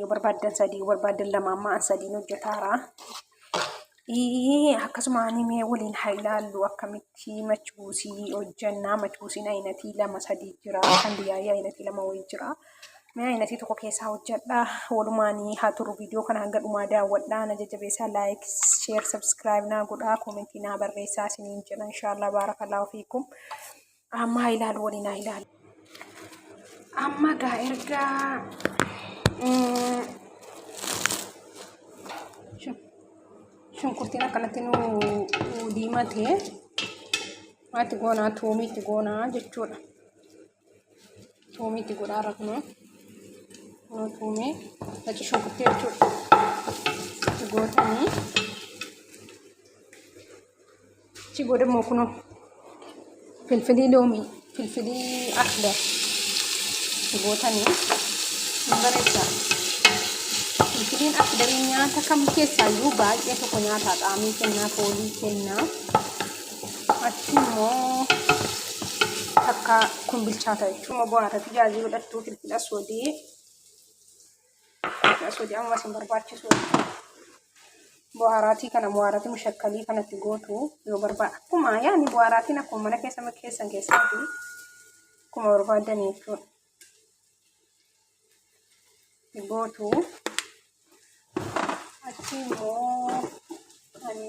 yoo barbaaddan sadii yoo barbaaddan lama amma an sadiin hojjetaara. Akkasuma ani mee waliin haa ilaallu akkamitti machuusii hojjannaa machuusiin ayinatii lama sadii jira kan biyyaayee ayinatii lama wayii jira. Mee ayinatii tokko keessaa hojjadha walumaanii haa turu viidiyoo kana hanga dhumaa daawwadhaa na jajjabeessaa laayik sheer sabskiraayib naa godhaa koomentii naa barreessaa isiniin jedha inshaallah baarakallahu fiikum. Amma ilaalu waliin haa ilaalu. Amma gaa erga shunkurtiin akkanatti nu diimate maalti goonaa tuumiitti goonaa jechuudha. Tuumiitti godhaa irra kunoo kunoo tuumee naci shunkurtii jechuudha. Itti gootanii. Achi booda immoo kunoo filfilii loomii, filfilii akbar itti gootanii hin bareechaa. Filfiliin akbarii nyaata kam keessaa iyyuu baay'ee tokko nyaata qaamii kennaa, foolii kennaa. Achi immoo takka kun bilchaata jechuun immoo bu'aa irratti jaajii godhattuu filfila sodee Masuudi amma isin barbaachisu bu'aaraatii kana bu'aaraatii mushakkalii kanatti gootu yoo barbaada akkuma yaani bu'aaraatiin akkuma mana keessa keessan keessatti akkuma barbaadan jechuudha. Gootu achi immoo ani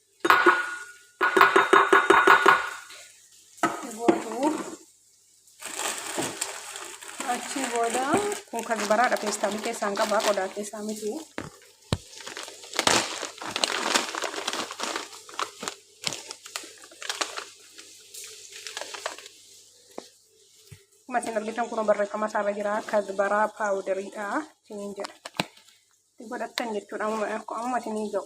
guutuu achi booda kun kan baraadha feestaamii keessaan qabaa qodaa keessaa miti masin argitan kun barreeffama isaarra jira kazbaraa paawudariidha isiniin jedha godhattan jechuudha amma isinii ga'u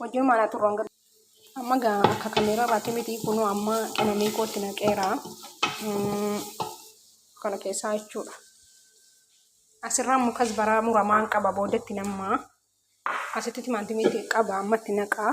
Wajjin maanaa turraan gad. Amma gaa akka kameeraa irraatti miti kunuu amma qimamii kootti naqeera. Mm, Kana keessaa jechuudha. Asirraa immoo kasbaraa muramaan qaba boodatti nammaa. Asitti timaantimiitti qaba ammatti naqaa.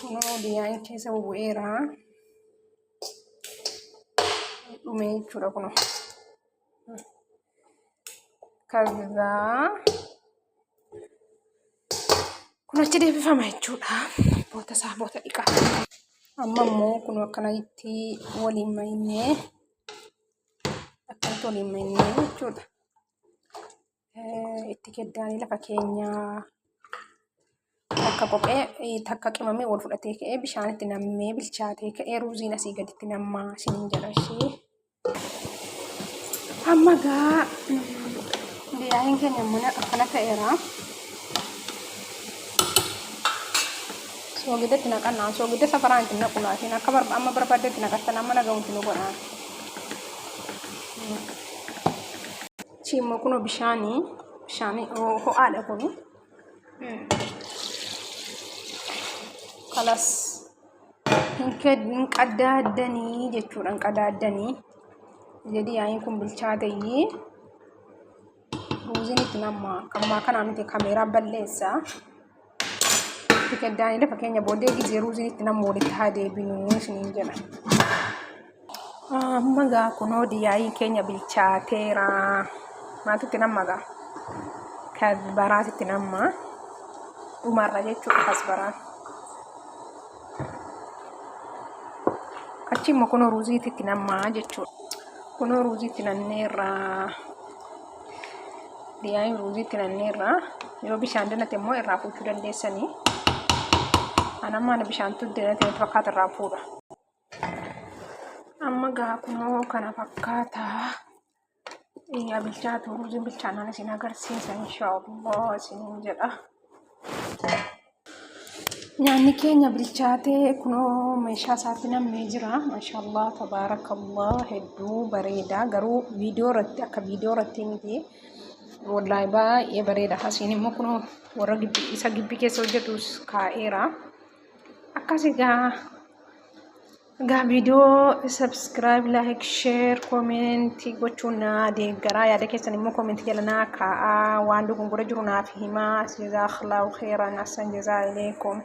kunoo biyyaan keessa bubu'eera dhumee jechuudha kunoo kazzaa kun achi deebifama jechuudha boota isaa boota dhiqaa amma immoo kunoo akkana itti waliin maynee akkamitti waliin maynee jechuudha Eh, Itti keddaanii lafa keenyaa takka qophee eh, takka qimamee wal fudhatee ka'ee bishaanitti nammee bilchaatee ka'ee ruuziin asii gaditti nammaa isiniin jedha ishee. Amma gaa biyyaaniin keenya mana akkana ta'eera. Soogidda itti naqannaan soogidda safaraan itti naqu laatiin akka barba amma barbaadde itti naqattan amma nagahuutti nu godhaan. Achi immoo kunoo bishaanii bishaanii ho- ho'aadha kuni. Kalas hin ked- hin qadaaddanii jechuudha hin qadaaddanii. Jedhi yaa'iin kun bilchaateyyii. Ruuziin itti nammaa kammaa kanaa miti kameeraa balleessaa. Itti gaddaanidha fakkeenya booddee gizee ruuziin itti namni walitti haa deebinuu isiniin jedha. Amma gaa kunoo diyaayiin keenya bilchaateera. Maaltu itti namma gaa? Kasbaraatu itti namma. Dhumarra jechuudha kasbaraan. Achi immoo kunoo ruuziitu itti namma jechuudha. Kunoo ruuziitti nanneerra. Biyyaanii ruuzii itti nanneerra. Yoo bishaan danate immoo irraa fuuchuu dandeessanii. Anamma ana bishaantu danate natti fakkaata irraa fuudha. Amma gaa kunoo kana fakkaata. Yaa bilchaatu ruuziin bilchaannaan isin agarsiisa inshaallah isiniin jedha. Nyaanni keenya bilchaatee kunoo meeshaa isaatti nammee jira. Maashaallah tabaarakallah hedduu bareeda garuu viidiyoo irratti akka viidiyoo irratti miti. Wallahi baay'ee bareeda. Asiin immoo kunoo warra gibbii isa gibbii keessa hojjetus kaa'eera. Akkas egaa Egaa viidiyoo subscribe, like, share, comment gochuun naa deeggaraa yaada keessan immoo comment jala naa kaa'aa waan dogongora jiru naaf himaa. Jazakallahu khairan. Ahsan jazaa ilaykum.